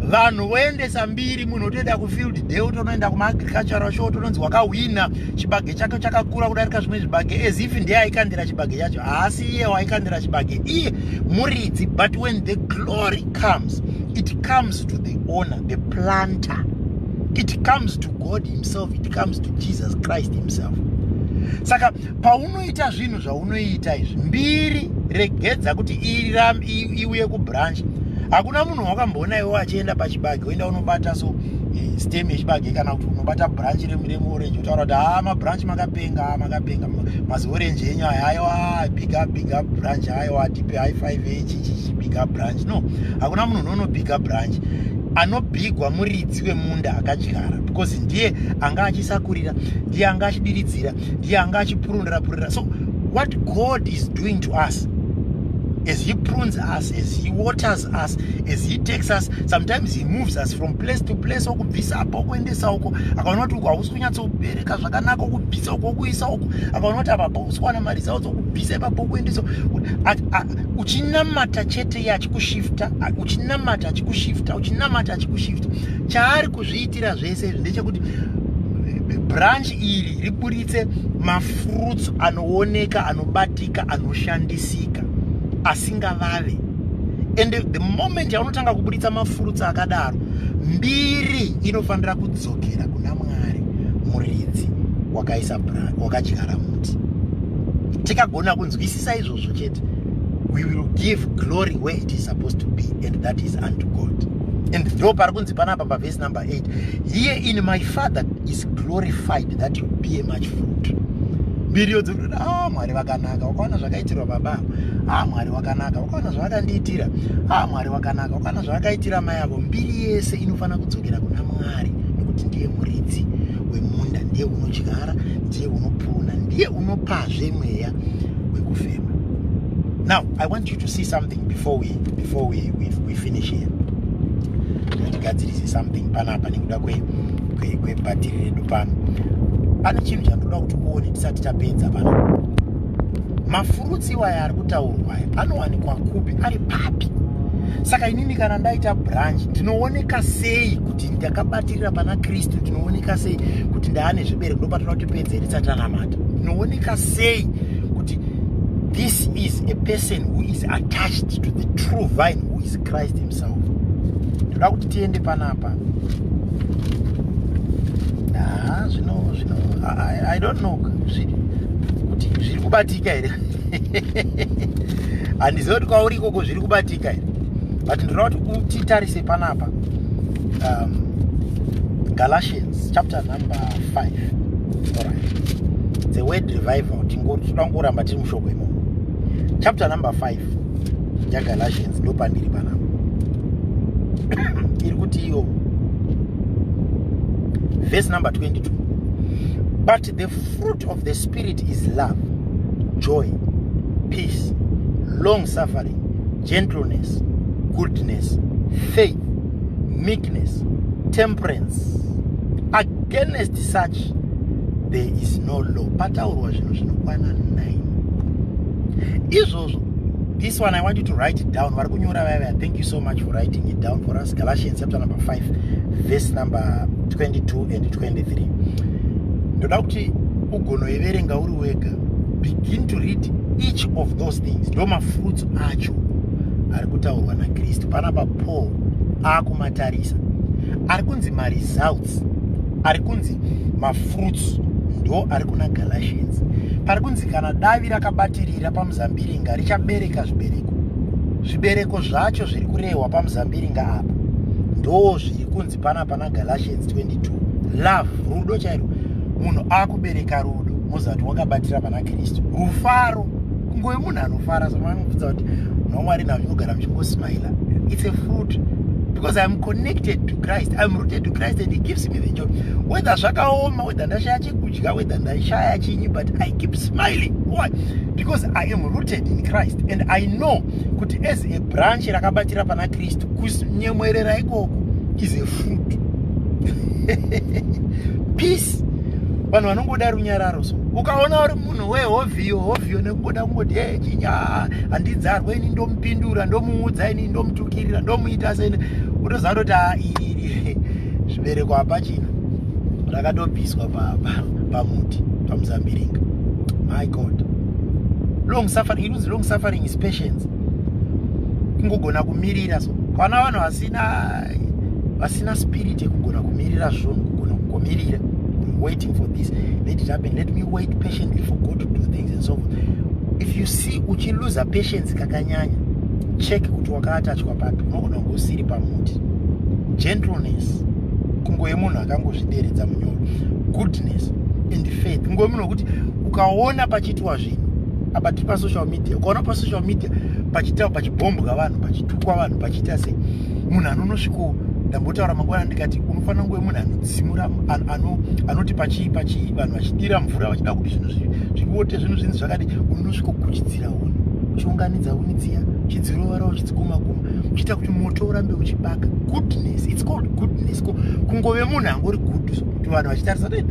vanhu voendesa mbiri munhu otoenda kufield day otonoenda kumaagricultural show otononzi wakahwina chibage chake chakakura kudarika zvimwe zvibage as if ndiye aikandira chibage chacho haasi iye waikandira chibage iye muridzi but when the glory comes it comes to the owner the planter it comes to god himself it comes to jesus christ himself saka paunoita zvinhu zvaunoita izvi mbiri regedza kuti iuye kubranch hakuna munhu wakamboona iwe achienda pachibage oenda unobata so eh, stem yechibage kana kuti unobata branch remuremuo kutaura kuti haa ah, mabranch makapenga ah, makapenga maziorange enyu aya aiwa ah, big up big up branch aiwa tipe high five echichichi big up branch no hakuna munhu unono big up branch anobigwa muridzi wemunda akadyara because ndiye anga achisakurira ndiye anga achidiridzira ndiye anga achipurundira purira so what god is doing to us as he prunes us as he waters us as he takes us sometimes he moves us from place to place bvisa apa ukuendesa uko akaona kuti uku hausi kunyatsobereka zvakanaka ukubvisa uko ukuisa uko akaona kuti apa pausi kuwana mari zao dzokubvisa ipapo ukuendesa uchinamata chete iye achikushifta uchinamata achikushifta uchinamata achikushifta chaari kuzviitira zvese izvi ndechekuti branch iri riburitse mafruits anooneka anobatika anoshandisika asingavave and the moment yaunotanga kuburitsa mafurutsi akadaro mbiri inofanira kudzokera kuna mwari muridzi wakaisa wakadyara muti tikagona kunzwisisa izvozvo chete we will give glory where it is supposed to be and that is unto god and ndo pari kunzi panapa pavhesi number 8 here in my father is glorified that you be a much fruit mbiri ah mwari vakanaka wakaona zvakaitirwa baba ah mwari wakanaka wakaona zvavakandiitira ah mwari wakanaka wakaona zvavakaitira mai avo mbiri yese inofanira kudzokera kuna mwari nekuti ndiye muridzi wemunda ndiye unodyara ndiye unopona ndiye unopazve mweya wekufema now i want you to see something before we, before we, we, we finish here tigadzirise something panapa nekuda kwenyu kwebhatiri redu pano pane chinhu chandoda kuti uone tisati tapedza pano mafurutsi iwaya ari kutaurwa aya anowanikwa kupi ari papi saka inini kana ndaita branch ndinooneka sei kuti ndakabatirira pana kristu ndinooneka sei kuti ndaane zvibereko ndopatoda kuti pedze iri tsatanamata ndinooneka sei kuti this is a person who is attached to the true vine who is christ himself South. Ndoda kuti tiende panapa. Ah, zvino zvino I, I don't know zviri kuti zviri kubatika here. Handizivi kuti kwauri ikoko zviri kubatika here. But ndoda kuti titarise panapa. Um, Galatians chapter number 5. All right. The word revival tingoda kungoramba tiri mushoko imomo. Chapter number 5. yagalatians ndopandiri panapa iri kuti iyo verse number 22 but the fruit of the spirit is love joy peace long suffering gentleness goodness faith meekness, temperance. Against such, there is no law. Pataurwa zvinhu zvinokwana 9. Izvozvo, this one I want you to write it down. Vari kunyora vaya thank you so much for writing it down for us. Galatians chapter number 5, verse number 22 and 23. Ndoda kuti ugonoiverenga uri wega. Begin to read each of those things. Ndoma fruits acho. ari kutaurwa nakristu panapa paul akumatarisa ari kunzi maresults ari kunzi mafruits ndo ari kuna galatians pari kunzi kana davi rakabatirira pamuzambiringa richabereka zvibereko zvibereko zvacho zviri kurehwa pamuzambiringa apa ndo zviri kunzi pana pana galatians 22 love rudo chairo munhu akubereka rudo mozati wakabatira pana kristu rufaro kungove munhu anofara somaanobvudza kuti nomwari navo inogara muchingosmaila its a fruit because iam connected to christ iam rooted to christ and he gives me the job whether zvakaoma whether ndashaya chekudya whether ndashaya chinyi but i keep smiling why because i am rooted in christ and i know kuti as a branch rakabatira pana East kunyemwerera ikoko is a fruit peace vanhu vanongoda runyararo so ukaona uri munhu wehovhiyo hovhiyo nekungoda kungoti e chinya handidzarwa ini ndomupindura ndomuudza ini ndomutukirira ndomuita sene utoziva toti a iri zvibereko hapachina rakatobviswa pamuti pamuzambiringa my god long suffering inonzi long suffering is patience kungogona kumirira so kwana vanhu vasina vasina spirit yekugona kumirira zvunhu kugona kugomirira waiting for this let it happen let me wait patiently for god to do things and so forth if you see uchiluza patience kakanyanya check kuti wakaatachwa papi unogona kunge usiri pamuti gentleness kungoye munhu akangozvideredza munyoro goodness and faith kungoye munhu wekuti ukaona pachi kuitwa zvinhu apa tiri pasocial media ukaona pasocial media pachitawa pachibhombwa vanhu pachitukwa vanhu pachiita sei munhu anonosviko ndambotaura mangwana ndikati unofanira nguve munhu anotsimura anoti pachii pachii vanhu vachidira mvura vachida kuti zvinhu zvivote zvinhu zvinzi zvakadi unosviko kuchidzira huni uchiunganidza huni dziya uchidzirovara uchidzikumakuma uchiita kuti moto urambe uchibaka goodness its called goodness kungove munhu angori good so kuti vanhu vachitarisa kuti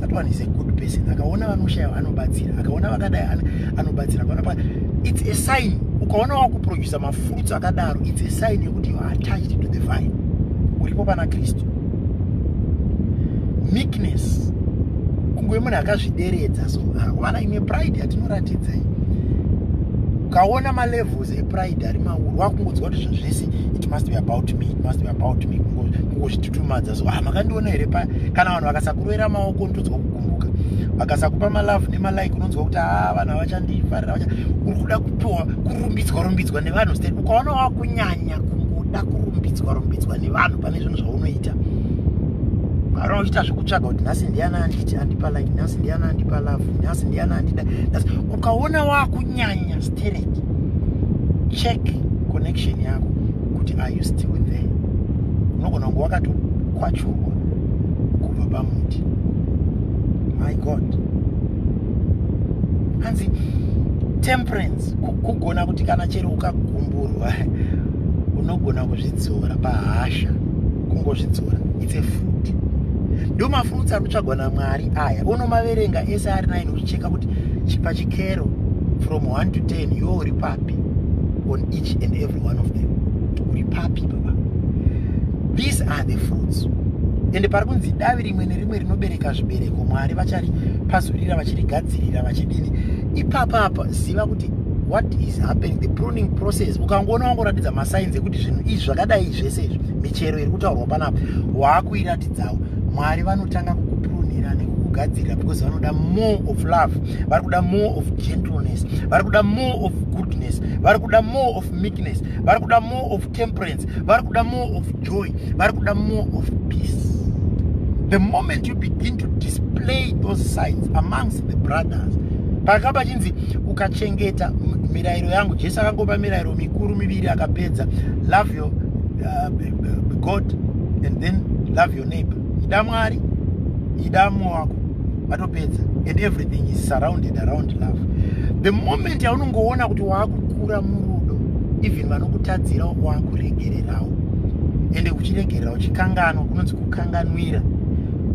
that one is a good person akaona vanoshaya anobatsira akaona vakadai anobatsira kana pa it's a sign ukaona wakuproducer mafruits akadaro it's a sign yekuti you are attached to the vine uripo pana kristu meekness kunguve munhu akazvideredza so vana ah, imwe pride yatinoratidza iyi ukaona malevels epride ari mauru wakungodzwa kuti zvazvese it must be about me it must be about me kungozvit tumadza so ah makandiona here pa kana vanhu vakasakuroera maoko unotonzwa kugumbuka vakasakupa malove nemalike unonzwa kuti ah vanhu avachandifarira vacha uri kuda kupiwa kurumbidzwa rumbidzwa nevanhu state ukaona wakunyanya kungoda kurumbidzwa rumbidzwa nevanhu pane zvinhu zvaunoita kana uchiita zvekutsvaga kuti nhasi ndiana anditi andipa like nhasi ndiana andipa love nhasi ndiana andida nhasi ukaona wakunyanya stereki check connection yako kuti are you still there unogona kunge wakatokwachurwa kubva pamuti my god hanzi temperance kugona kuti kana chero ukagumburwa unogona kuzvidzora pahasha kungozvidzora its a fruit ndo mafruits anotsvagwa namwari aya unomaverenga ese ari nine uchicheka kuti chipachikero from 1 to 10 yo uri papi on each and every be one of them uri papi baba these are the fruits ende pari kunzi davi rimwe nerimwe rinobereka zvibereko mwari vachari pazurira vachirigadzirira vachidini ipapa apa ziva kuti what is happening the pruning process ukangoona wangoratidza masainzi ekuti zvinhu izvi zvakadai zvese izvi michero iri kutaurwa panapa waakuiratidzawo mwari vanotanga kukuprunira nekukugadzirira because vanoda more of love vari kuda more of gentleness vari kuda more of goodness vari kuda more of meekness vari kuda more of temperance vari kuda more of joy vari kuda more of peace the moment you begin to display those signs amongst the brothers paka pachinzi ukachengeta mirayiro yangu jesu akangopa mirayiro mikuru miviri akapedza love your uh, god and then love your neighbor ida mwari ida mwe wako vatopedza and everything is surrounded around love the moment yaunongoona kuti waakukura murudo even vanokutadzira wakuregererawo ende kuchiregerera uchikanganwa kunonzi kukanganwira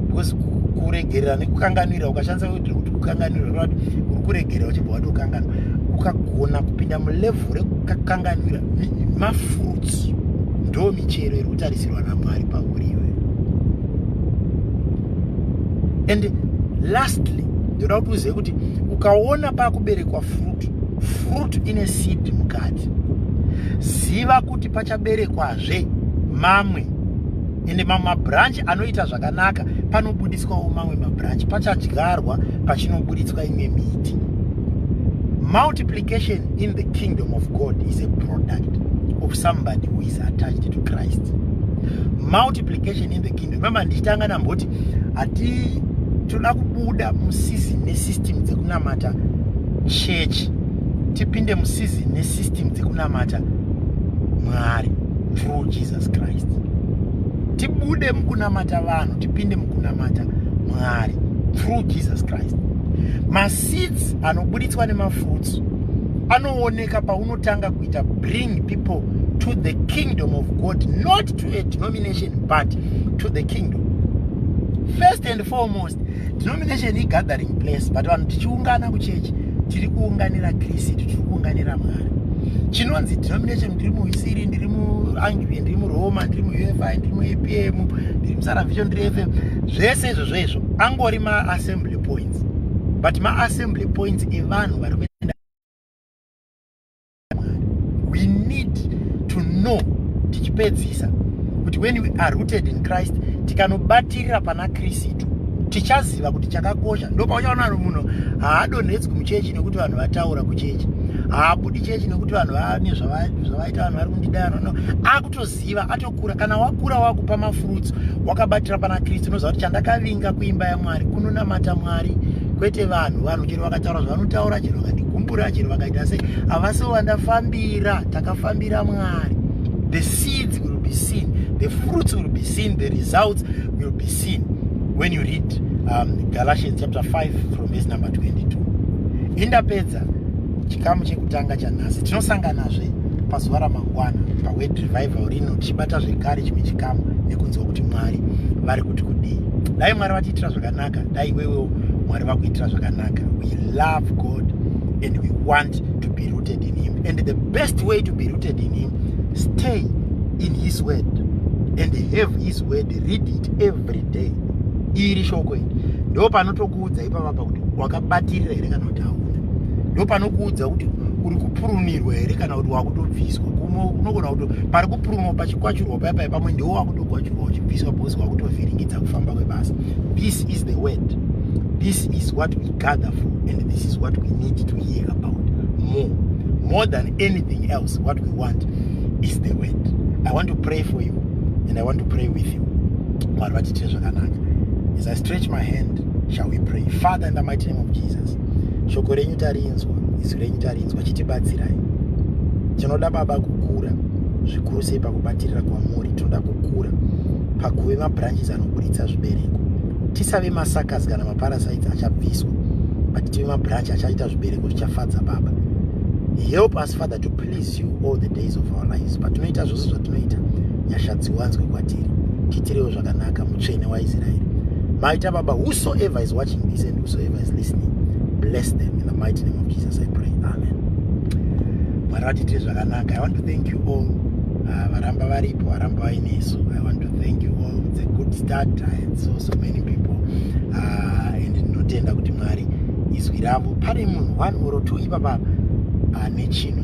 because kuregerera nekukanganwira ukashandisa kuti kuti kukanganwira rava kuti uri kuregerera uchibva wati ukanganwa ukagona kupinda mulevel rekukanganwira mafruits ndo michero iri kutarisirwa namwari pauri and lastly ndoda kuti uzive kuti ukaona pakuberekwa fruit fruit ine seed mukati ziva kuti pachaberekwazve mamwe ende mamwe mabranch anoita zvakanaka panobudiswawo mamwe mabranch pachadyarwa pachinobuditswa imwe miti multiplication in the kingdom of god is a product of somebody who is attached to christ multiplication in the imi mama ndichitanga namboti hati toda kubuda musizini nesystem dzekunamata church tipinde musizini nesystem dzekunamata mwari through jesus christ tibude mukunamata vanhu tipinde mukunamata mwari through jesus christ maseeds anobuditswa nemafruits anooneka paunotanga kuita bring people to the kingdom of god not to a denomination but to the kingdom first and foremost denomination igathering place but vanhu tichiungana kuchechi tiri kuunganira kristu tiri kuunganira mwari chinonzi denomination ndiri muisiri ndiri muangivi ndiri muroma ndiri muufi ndiri muapm ndiri musaravhicho ndiri fm zvese izvo zvoizvo angori maassembly points but maassembly points evanhu vari Mwari. We need to know tichipedzisa kuti when we are rooted in Christ tikanobatirira pana Kristu tichaziva kuti chakakosha ndopauchaona kuti munhu haadonhedzwi muchechi nekuti vanhu vataura kuchechi haabudi chechi nekuti vanhu vane zvavaita vanhu vari kundidayana no akutoziva ato kura kana wakura wakupa mafruits wakabatira pana kristu unoziva kuti chandakavinga kuimba yamwari kunonamata mwari kwete vanhu vanhu chero vakataura zvavanotaura chero vakandigumbura chero vakaita sei havasi vandafambira takafambira mwari the seeds will be seen the fruits will be seen the results will be seen when you read um, galatians chapter 5 from verse number 22 indapedza Pastor, chikamu chekutanga chanhasi tinosanganazve pazuva ramangwana paword revival rino tichibata zvekare chimwe chikamu nekunzwa kuti mwari vari kuti kudii dai mwari vatiitira zvakanaka dai iwewewo mwari vakuitira zvakanaka we love god and we want to be rooted in him and the best way to be rooted in him stay in his word and have his word read it every day iri shoko iri ndo panoto kuudza ipapa pa kuti wakabatirira here kana kuti hauna ndopanokuudza kuti uri kupurunirwa here kana kuti wakutobviswa kumwe unogona kuti pari kupurunwa pachikwachurwa paya paya pamwe ndiwo wakutokwachurwa uchibviswa bhosi wakutovhiringidza kufamba kwebasa this is the word this is what we gather for and this is what we need to hear about more more than anything else what we want is the word i want to pray for you and i want to pray with you mwari vatiitire zvakanaka as i stretch my hand shall we pray father in the mighty name of jesus shoko renyu tarinzwa izwi renyu tarinzwa chitibatsirai tinoda baba kukura zvikuru sei pakubatirira kwamuri tinoda kukura pakuve mabranches anoburitsa zvibereko tisave masakas kana maparasites achabviswa but tive mabranch achaita zvibereko zvichafadza baba help us father to please you all the days of our lives patinoita zvose zvatinoita nyasha dziwanzwe kwatiri titirewo zvakanaka mutsvene waisraeri maita baba whosoever is watching this and whosoever is listening bless them in the mighty name of jesus i pray amen mwari vatiitire zvakanaka i want to thank you all ah, varamba varipo varamba vainesu i want to thank you all it's a good start and so so many people ah, and ndinotenda kuti mwari izwi ravo pane munhu one or two ipapa ane ah, chinhu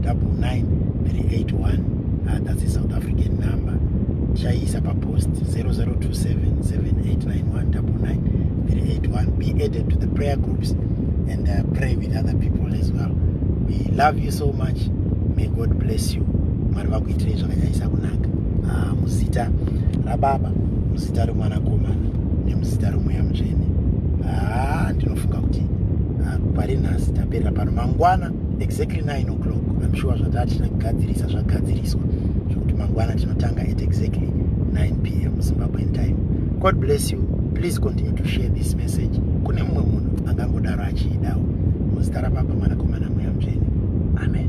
double nine three eight one uh, that's the south african number chaiisa papost 0027789199 be added to the prayer groups and uh, pray with other people as well we love you so much may god bless you mwari vakuitirei zvakanyanyisa kunaka ah, muzita rababa muzita remwanakomana nemuzita remweya mutsvene ah, ndinofunga kuti ah, pari nhasi taperera pano mangwana exactly 9 o'clock i'm sure zvataa tichina kugadzirisa zvagadziriswa zvekuti mangwana tinotanga at exactly 9 p m zimbabwean time god bless you please continue to share this message kune mumwe munhu angangodaro achiidawo muzita rababa mwanakomana mweya mutsvene amen